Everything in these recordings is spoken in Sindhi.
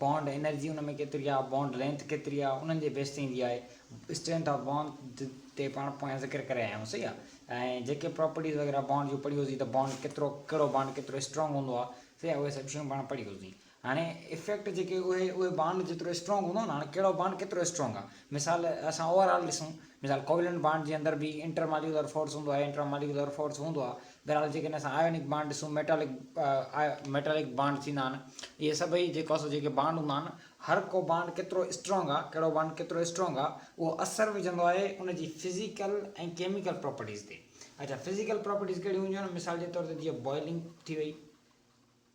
بانڊ انرجي ان ۾ ڪيتري آهي، بانڊ لينٿ ڪيتري آهي، انهن جي بيس تي ايندي آهي. اسٽرينٿ آف بانڊ تي پاڻ پويان ذڪر ڪري آيا آهيون صحيح آهي ۽ جيڪي پراپرٽيز وغيره بانڊ جون پڙهيون سين ته بانڊ ڪيترو ڪهڙو بانڊ ڪيترو اسٽرانگ هوندو آهي صحيح آهي اهي سڀ شيون پاڻ پڙهيون سين هاڻي افيڪٽ جيڪي اهي اهي بانڊ جيترو اسٽرانگ هوندو نه هاڻي ڪهڙو بانڊ ڪيترو اسٽرانگ آهي مثال اسان اوور آل ڏسون مثال ڪوولنٽ بانڊ جي اندر به انٽر ماليڪيولر فورس هوندو آهي انٽرا ماليڪيولر فورس هوندو آهي بهرحال جيڪڏهن اسان آيونڪ بانڊ ڏسون ميٽالڪ ميٽالڪ بانڊ ٿيندا آهن اهي سڀئي جيڪو اسان جيڪي بانڊ هوندا آهن هر ڪو بانڊ ڪيترو اسٽرانگ آهي ڪهڙو بانڊ ڪيترو اسٽرانگ آهي اهو اثر وجهندو آهي ان جي فزيڪل ۽ ڪيميڪل پراپرٽيز تي اڇا فزيڪل پراپرٽيز ڪهڙيون هونديون آهن مثال جي طور تي جيئن بوائلنگ ٿي وئي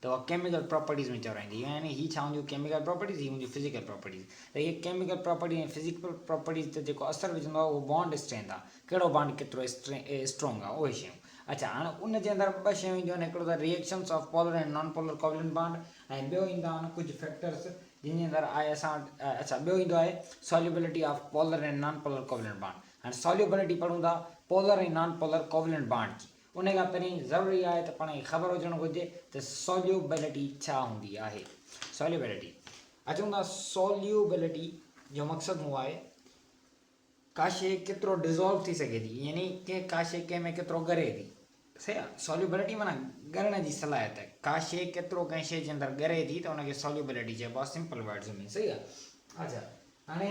ته اها ڪيميڪل پراپرٽيز ۾ چورائيندي هي يعني هي ڇا هونديون ڪيميڪل پراپرٽيز هي هونديون فزيڪل پراپرٽيز ته اهي ڪيميڪل پراپرٽيز ۽ فزيڪل پراپرٽيز تي جيڪو اثر وجهندو آهي اهو بانڊ اسٽرينٿ آهي ڪهڙو بانڊ ڪيترو اسٽرونگ آهي اهي شيون اڇا هاڻي ان جي اندر ٻه شيون اينديون آهن هڪڙو ته reactions of polar ۽ non polar covalent bond ۽ ٻيو ايندا آهن ڪجهه فيڪٽرس جن جي اندر آهي اسان وٽ اڇا ٻيو ايندو آهي solubility of polar ۽ non polar covalent bond هاڻي سوليوبلٽي پڙهون ٿا polar ۽ non polar covalent bond جي ان کان پهرين ضروري آهي ته پاڻ کي خبر هجڻ گهرجي ته سوليوبلٽي ڇا هوندي آهي. سوليوبلٽي اچون ٿا سوليوبلٽي جو مقصد هو آهي ڪا شي ڪيترو ڊزالو ٿي سگهي ٿي يعني ڪنهن ڪا شي ڪنهن ۾ ڪيترو ڳري ٿي صحيح آهي سوليوبلٽي معنيٰ ڳرڻ جي صلاحيت ڪا شي ڪيترو ڪنهن شي جي اندر ڳري ٿي ته ان کي سوليوبلٽي چئبو آهي سمپل ورڊز ۾ صحيح آهي اچا هاڻي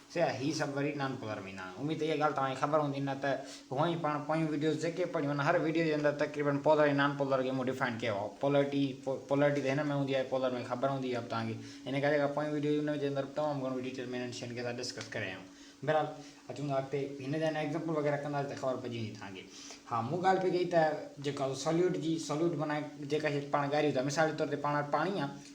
سيان هي سڀ وري نان پولر مينان آهن اميد ته اها ڳالهه توهان کي خبر هوندي نه ته هونئن ئي پاڻ پويون وڊيوز جيڪي پڙهيون ان هر وڊيو جي اندر تقريبن پولر ۽ نان پولر کي مون ڊفائن ڪيو آهي پولرٽي پولرٽي ته هن ۾ هوندي آهي پولر ۾ خبر هوندي اهي به توهان کي ان ڪري جيڪا پويون وڊيو ان جي اندر به تمام گهڻو ڊيٽيل ۾ انهن شين کي اسان ڊسڪس ڪري آيا آهيون بهرحال اچون ٿا اڳتي هن جا انا ايگزامپل وغيره ڪنداسين ته خبر پئجي ويندي توهان کي ها مون ڳالهه پئي ڪئي ته جيڪا سوليوٽ جي سوليوٽ بنائي جيڪا شي پاڻ ڳاريون ٿا مثال جي طور تي پاڻ وٽ پاڻي آهي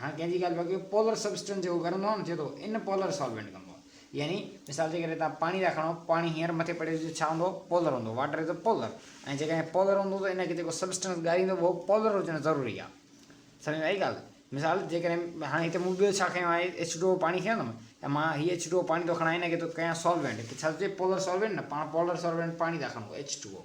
هاڻ ڪنهن جي ڳالهه پيو ڪيو پولر سبسٽنس جيڪو گرم هوندو آهي نه ٿئي ٿو ان پولر سالوينٽ ڪم ڪندو يعني مثال جي ڪري تان پاڻي ٿا کڻو پاڻي هينئر مٿي پڙهيو جو ڇا هوندو پولر هوندو واٽر از پولر ۽ جيڪڏهن پولر هوندو ته ان کي جيڪو سبسٽنس ڳاريندو اهو پولر هجڻ ضروري آهي سمجھ ۾ آئي ڳالهه مثال جيڪڏهن هاڻي هتي مون ٻيو ڇا کنيو آهي ايچ ٽو پاڻي کنيو اٿم ته مان هي ايچ ٽو پاڻي ٿو کڻان هن کي ٿو ڪيان سالوينٽ ته ڇا ٿو چئي پولر سالوينٽ نه پاڻ پولر سالوينٽ پاڻي ٿا کڻو ايچ ٽو او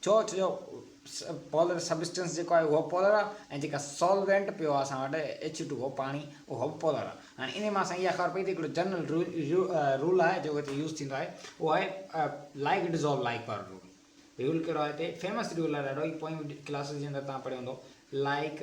چوٿ جو پولر سبسٽنس جيڪو آهي اهو به پولر آهي ۽ جيڪا سولوينٽ پيو آهي اسان وٽ ايڇ ٽو او پاڻي اهو به پولر آهي هاڻي انهي مان اسان کي اها خبر پئي ته هڪڙو جنرل رول آهي جيڪو هتي يوز ٿيندو آهي اهو آهي لائيڪ ڊزولو لائيڪ پر رول رول ڪهڙو آهي هتي فيمس رول آهي ڏاڍو هي پوئين ڪلاسز جي اندر توهان پڙهيو هوندو لائيڪ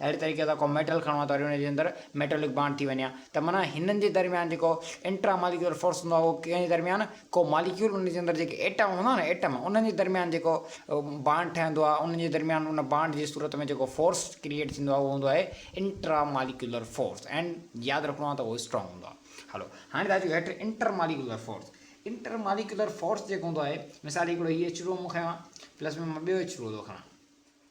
اهڙي طريقي سان ڪو ميٽل کڻو ها ته وري ان جي اندر ميٽالڪ بانڊ ٿي وڃي ها ته معنيٰ هنن جي درميان جيڪو انٽرا ماليڪيولر فورس هوندو آهي اهو ڪنهن جي درميان ڪو ماليڪيول ان جي اندر جيڪي ايٽم هوندا آهن نه ايٽم انهن جي درميان جيڪو بانڊ ٺهندو آهي انهن جي درميان ان بانڊ جي صورت ۾ جيڪو فورس ڪريئيٽ ٿيندو آهي اهو هوندو آهي انٽرا ماليڪيولر فورس اينڊ ياد رکڻو آهي ته اهو اسٽرانگ هوندو آهي هلو هاڻي ٿا اچون هيٺ inter molecular force inter molecular force جيڪو هوندو آهي مثال هڪڙو هي ايچ ٽو مون کنيو آهي پلس ۾ مان ٻيو ايچ ٽو ٿو کڻان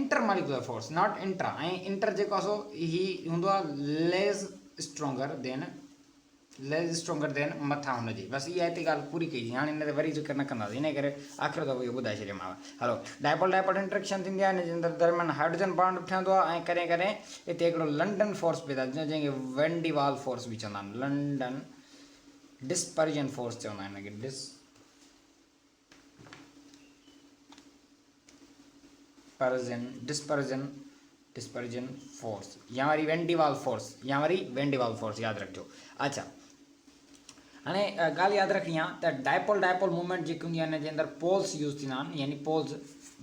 inter molecular force not intra ۽ inter جيڪو آهي سو هي هوندو آهي less stronger than less stronger than مٿان هن جي بس اها هتي ڳالهه پوري ڪئي هاڻي هن تي وري ذڪر نه ڪنداسين ان ڪري آخر دفعو اهو ٻڌائي ڇڏيم هلو ڊائپول ڊائپول انٽريڪشن ٿيندي آهي هن جي اندر درميان هائڊروجن بانڊ به ٺهندو آهي ۽ ڪڏهن ڪڏهن هتي هڪڙو لنڊن فورس پيدا ٿيندو جنهن کي وينڊي وال فورس به چوندا آهن لنڊن ڊسپرجن فورس چوندا آهن هن کي dis dispersion, Dispersion، Dispersion Force يا وري وين ڊي وال فورس يا وري وين ڊي وال فورس ياد رکجو اچھا هاڻي ڳالهه ياد رکڻي آهي ته ڊائپول ڊائپول موومينٽ جيڪي هوندي آهي ان جي اندر پولس يوز ٿيندا آهن يعني پولس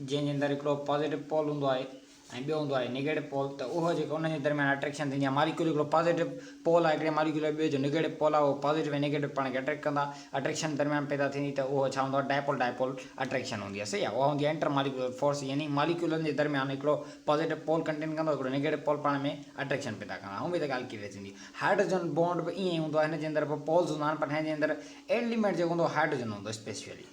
جنهن جي اندر هڪڙو پازيٽو پول هوندو آهي ۽ ٻيو هوندو آهي نيگيٽو پول ته اهو جيڪو انهن جي درميان اٽريڪشن ٿيندي آهي ماليڪيول هڪڙو پازيٽو پول آهي هڪڙي ماليڪيول جو ٻيو جو نيگيٽو پول آهي اهو پازيٽو ۽ نيگيٽو پاڻ کي اٽريڪٽ ڪندا اٽريڪشن درميان پيدا ٿيندي ته اهو ڇا هوندو آهي ڊائپول ڊائپول اٽريڪشن هوندي آهي صحيح آهي اها هوندي آهي انٽر ماليڪيولر فورس يعني ماليڪيولن جي درميان هڪڙو پازيٽو پول ڪنٽين ڪندو هڪڙو نيگيٽو پول پاڻ ۾ اٽريڪشن پيدا ڪندا هونئن به ته ڳالهه ڪليئر ٿيندي هائڊروجن بونڊ به ائين ئي هوندو آهي هن جي اندر به پولز هوندا آهن پر هن جي اندر ايليمينٽ جيڪو هوندو هائڊروجن هوندو اسپيشلي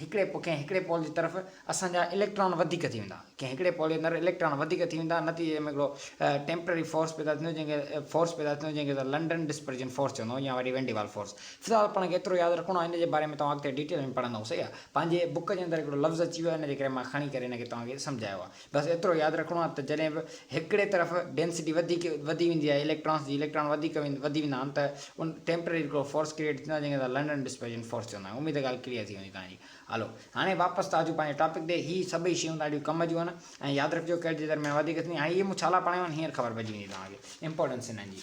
هڪڙي ڪنهن هڪڙي پول جي طرف اسان جا اليڪٽران وڌيڪ ٿي ويندا ڪنهن هڪڙي پول جي اندر اليڪٽران وڌيڪ ٿي ويندا نتيجي ۾ هڪڙو ٽيمپرري فورس پيدا ٿيندو جنهن کي فورس پيدا ٿيندو جنهن کي اسان لنڊن ڊسپرجن فورس چوندا آهيون يا وري وين ڊي وال فورس في الحال پاڻ کي ايترو ياد رکڻو آهي ان جي باري ۾ توهان اڳتي ڊيٽيل ۾ پڙهندائون صحيح آهي پنهنجي بوڪ جي اندر هڪڙو لفظ اچي ويو آهي ان جي ڪري مان کڻي ڪري ان کي توهان کي سمجهايو آهي بس ايترو ياد رکڻو آهي ته جڏهن به هڪڙي طرف ڊينسٽي وڌيڪ وڌي ويندي آهي اليڪٽرانس جي اليڪٽران وڌيڪ وڌي ويندا آهن ته ان ٽيمپرري هڪڙو فورس ڪريئيٽ ٿيندو آهي جنهن کي اسان لنڊن ڊسپرجن فورس چوندا آهيون اميد آهي ڳالهه ڪليئر ٿي هوندي توهانجي هلو هاڻي واپس ٿا اچون پنهنجي ٽاپڪ تي هي سڀئي شيون ڏاڍيون ڪم جون آهن ۽ ياد رکجو ڪريڊٽ جي درميان وڌيڪ ٿيندي هاڻي اهي مون ڇالا پڙهايون آهن هينئر خبر پئجي ويندي توهانکي امپورٽنس انهن جي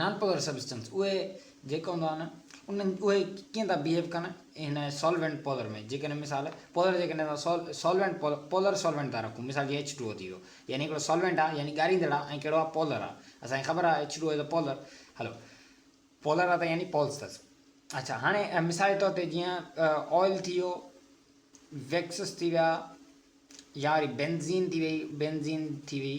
نان پوئر سبسٽنس اهي جيڪا هوندا آهن انهن اهي ڪيئن ٿا بيهيو ڪن هن سالوينٽ پولر ۾ جيڪڏهن مثال پولر جيڪڏهن اسان سال سالوينٽ پولر پولر سالوينٽ ٿا رکون مثال جيئن ايچ ٽو او ٿي ويو يعني هڪڙو سالوينٽ آ يعني ڳاريندڙ آ ۽ ڪهڙو آ پولر آ اسان کي خبر آ ايچ ٽو او پولر هلو پولر آ ته يعني پولس اٿس اچھا هاڻي مثال طور تي جيئن آئل ٿي ويو ويڪسس ٿي ويا يا وري بينزين ٿي وئي بينزين ٿي وئي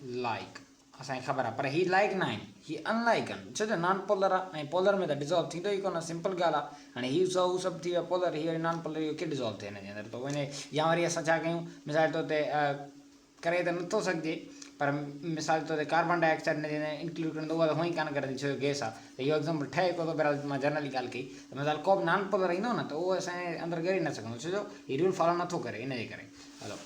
لائيڪ اسان کي خبر آ پر هي لائيڪ نه آهن هي ان لائيڪ آهن ڇو جو نان پولر آ ۽ پولر ۾ ته ڊزالو ٿيندو ئي ڪونه سمپل ڳالهه آ هاڻي هي سو هو سڀ ٿي ويا پولر هي وري نان پولر اهو ڪي ڊزالو ٿئي هن جي اندر تو وڃي يا وري اسان ڇا ڪيون مثال طور تي ڪري ته نٿو سگهجي پر مثال طور تي ڪاربان ڊاء آڪسائيڊ هن جي اندر انڪلوڊ ڪرڻ اهو ته هونئي ڪانه ڪرندي ڇو جو گيس آ ته اهو ايگزامپل ٺهي ڪو ٿو بهرحال مان جنرلي ڳالهه ڪئي ته مثال ڪو به نان پولر ايندو نه ته اهو اسان جي اندر ڳري نه سگهندو ڇو جو هي رول فالو نٿو ڪري ان جي ڪري هلو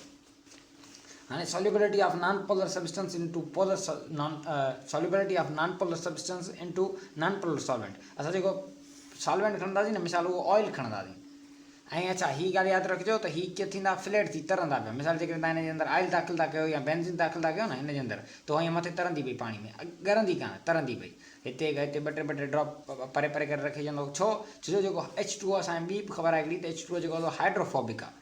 هاڻي solubility of non polar substance into polar solubility of non polar substance into non polar solvent اسان جيڪو سالوينٽ کڻنداسين نه مثال اهو آئل کڻنداسين ۽ اچھا هي ڳالهه ياد رکجو ته هي ڪي ٿيندا فليٽ ٿي ترندا پيا مثال جيڪڏهن تان هن جي اندر آئل داخل ٿا ڪيو يا بينزين داخل ٿا ڪيو نه هن جي اندر تو هيئن مٿي ترندي پئي پاڻي ۾ ڳرندي ڪانه ترندي پئي هتي هتي ٻه ٽي ٻه ٽي ڊراپ پري پري ڪري رکي ڇڏيندو ڇو ڇو جو جيڪو ايڇ ٽو اسان کي ٻي به خبر آهي هڪڙي ته ايڇ ٽو جيڪو هايڊروفوبڪ آهي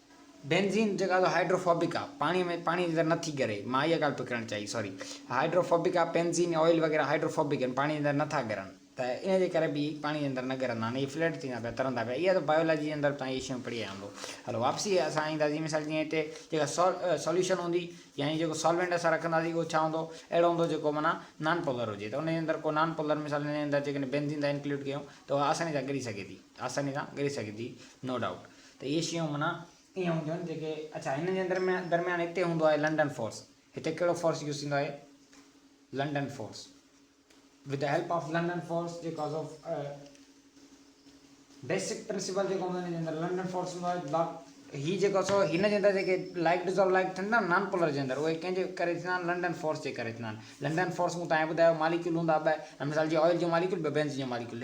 بينزين جيڪا ته هائڊروفوبڪ آ پاڻي ۾ پاڻي جي اندر نٿي ڳري مان اها ڳالهه پئي ڪرڻ چاهي سوري هائڊروفوبڪ آ بينزين يا آئل وغيره هائڊروفوبڪ آهن پاڻي جي اندر نٿا ڳرن ته ان جي ڪري به پاڻي جي اندر نه ڳرندا آهن اهي فليٽ ٿيندا پيا ترندا پيا اها ته بايولاجي جي اندر توهان اهي شيون پڙهي آيا هوندو هلو واپسي اسان اينداسين مثال جيئن هتي جيڪا سو سوليوشن هوندي يعني جيڪو سالوينٽ اسان رکنداسين اهو ڇا هوندو اهڙو هوندو جيڪو معنيٰ نان پولر هجي ته ان جي اندر ڪو نان پولر مثال ان جي اندر جيڪڏهن بينزين تان انڪلوڊ ڪيون ته اها آساني سان ڳري سگهي ٿي آساني سان ڳري سگهي ٿي نو ڊائوٽ ته اهي شيون معنيٰ ائين هونديون آهن جيڪي اڇا هن جي درميان درميان هتي هوندو آهي لنڊن فورس هتي ڪهڙو فورس يوز ٿيندو آهي London force with the help of London force جيڪو از آف بيسڪ پرنسپل جيڪو هوندو هن جي اندر لنڊن فورس هوندو آهي بلاڪ هي جيڪو سو هن جي اندر جيڪي لائڪ ڊزالو لائڪ ٿيندا آهن نان پولر جي اندر اهي ڪنهن جي ڪري ٿيندا آهن لنڊن فورس جي ڪري ٿيندا آهن لنڊن فورس مون تائين ٻڌايو ماليڪيول هوندا ٻه مثال جي آئل جو ماليڪيول ٻه بينز جو ماليڪيول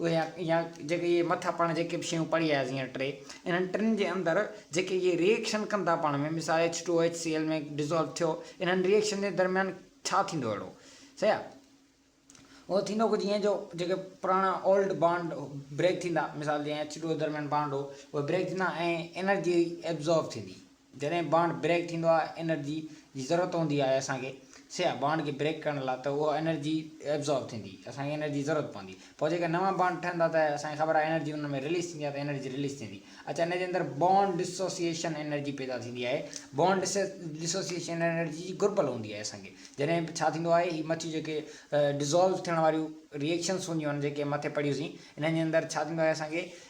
اهي يا يا جيڪي اهي مٿا پاڻ جيڪي به شيون پڙهي آياسين هينئر ٽي انهن ٽن جي اندر جيڪي اهي ريئيڪشن ڪن ٿا پاڻ ۾ مثال H two O H C L ۾ dissolve ٿيو انهن ريئيڪشن جي درميان ڇا ٿيندو اهڙو صحيح آ اهو ٿيندو ڪجهه ائين جو جيڪي پراڻا اولڊ بانڊ بريڪ ٿيندا مثال جيئن ايڇ ٽو او درميان بانڊ هو اهي بريڪ ٿيندا ۽ انرجي ابزارب ٿيندي جڏهن بانڊ بريڪ ٿيندو آهي انرجي جي ضرورت هوندي آهي اسان کي سياح بانڊ کي بريڪ ڪرڻ لاء ته اها انرجي ابزارب ٿيندي اسان کي انرجي ضرورت پوندي پوء جيڪي نوان بانڊ ٺهن ٿا ته اسان کي خبر آهي انرجي انهن ۾ رليز ٿيندي آهي ته انرجي رليز ٿيندي اچا ان جي اندر بانڊ ڊسوسيئيشن انرجي پيدا ٿيندي آهي بانڊ ڊسوسيئيشن انرجي جي گهربل هوندي آهي اسان کي جڏهن ڇا ٿيندو آهي هي مٿيون جيڪي ڊزالو ٿيڻ واريون ريئيڪشنس هونديون آهن جيڪي مٿي پڙهيون سين انهن جي اندر ڇا ٿيندو آهي اسان کي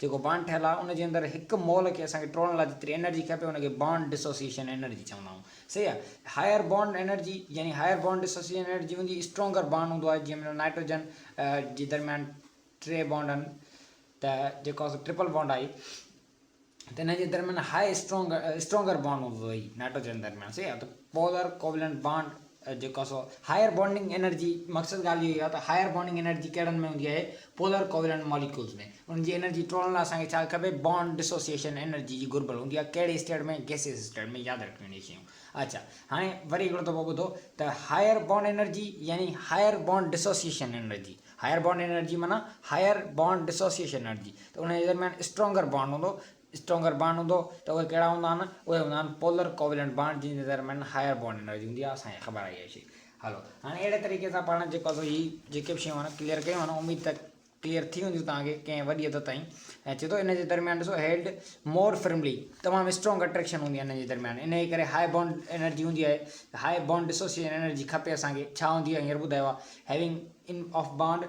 جيڪو بانڊ ٺهيل آهي ان جي اندر هڪ مول کي اسان کي ٽوڙڻ لاء جيتري انرجي کپي ان کي بانڊ ڊسوسيئيشن انرجي چوندا آهيون صحيح آهي هائر بانڊ انرجي يعني هائر بانڊ ڊسوسيئيشن انرجي هوندي اسٽرونگر بانڊ هوندو آهي جنهن ۾ نائٽروجن جي درميان ٽي بانڊ آهن ته جيڪو اسان ٽرپل بانڊ آهي ته هن جي درميان هائي اسٽرونگر اسٽرونگر بانڊ هوندو آهي نائٽروجن درميان صحيح آهي پولر ڪوولنٽ بانڊ جيڪو آهي سو هائير بانڊنگ انرجي مقصد ڳالهه اهو ئي آهي ته هائير بانڊنگ انرجي ڪهڙن ۾ هوندي آهي پولر ڪوولنٽ ماليڪيولز ۾ انهن جي انرجي ٽوڙڻ لاء اسان کي ڇا کپي بانڊ ڊسوسيئيشن انرجي جي گهربل هوندي آهي ڪهڙي اسٽيٽ ۾ گيسيس اسٽيٽ ۾ ياد رکڻيون اهي شيون اچا هاڻي وري هڪڙو دفعو ٻڌو ته هائير بانڊ انرجي يعني higher bond dissociation energy higher bond energy معنيٰ هائير بانڊ ڊسوسيئيشن انرجي ته ان جي درميان اسٽرانگر بانڊ هوندو اسٽرونگر بانڊ هوندو ته اهي ڪهڙا هوندا آهن؟ اهي هوندا آهن پولر ڪوويلنٽ بانڊ جن جي ڊٽرمنٽ هائر بانڊ انرجي هوندي آهي اسان کي خبر آهي اها شي هلو هاڻي اهڙي طريقي سان پاڻ جيڪو اسان هي جيڪي به شيون آهن ڪليئر ڪيون آهن اميد ته ڪليئر ٿي وينديون توهان کي ڪنهن وڏي حد تائين ۽ چي ٿو ان جي درميان ڏسو هيلڊ مور فرملي تمام اسٽرانگ اٽريڪشن هوندي آهي ان جي درميان ان جي ڪري هائي بانڊ انرجي هوندي آهي هائي بانڊ ڊسوسيشن انرجي کپي اسان کي ڇا هوندي آهي هينئر ٻڌايو آهي هيونگ ان آف بانڊ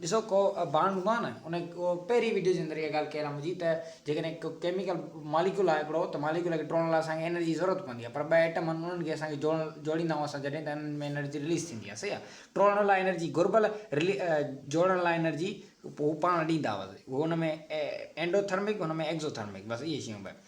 ڏسو ڪو بانڊ هوندو آهي نه ان پهرين وڊيو جي اندر اها ڳالهه ڪيل آهي منهنجي ته جيڪڏهن ڪو ڪيميڪل ماليڪول آهي هڪڙو ته ماليڪول کي ٽوڙڻ لاء اسان کي انرجي جي ضرورت پوندي آهي پر ٻه ايٽم آهن انهن کي اسان کي جوڙڻ جوڙيندا آهيون اسان جڏهن ته انهن ۾ انرجي رليز ٿيندي آهي صحيح آهي ٽوڙڻ لاء انرجي گهربل جوڙڻ لاء انرجي هو پاڻ ڏيندا هو ان ۾ اينڊو ٿرمڪ ان ۾ ايڪزو ٿرمڪ بس اهي شيون ٻه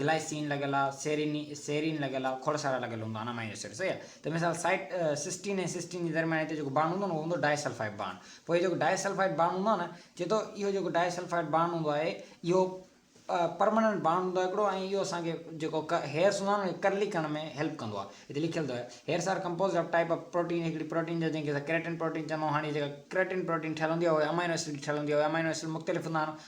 گلائسين لڳل آ، سيرين Serine لڳل آ، کوڙ سارا لڳل هوندا Amino Acid صحيح آ ته مثال سائيٽ سسٽين ۽ سسٽين جي درميان هتي جيڪو بانڊ هوندو نھ اهو هوندو ڊائي سلفائيڊ بانڊ پوء هي جيڪو ڊائي سلفائيڊ بانڊ هوندو آ نھ چئي ٿو اهو جيڪو ڊائي سلفائيڊ بانڊ هوندو آهي اهو پرماننٽ بانڊ هوندو آ هڪڙو ۽ اهو اسان کي جيڪو هيئرس هوندا آهن اهي ڪرلي ڪرڻ ۾ هيلپ ڪندو آ هتي لکيل اٿو hairs are composed of type of protein هڪڙي پروٽين جا جنهن کي اسان ڪريٽن پروٽين چوندا آهيون هاڻي جيڪا ڪريٽن پروٽين ٺهيل هوندي آ اهي امائنو ايسڊ جي ٺهيل هوندي آ اهي امائنو ايسڊ مختلف هوندا آهن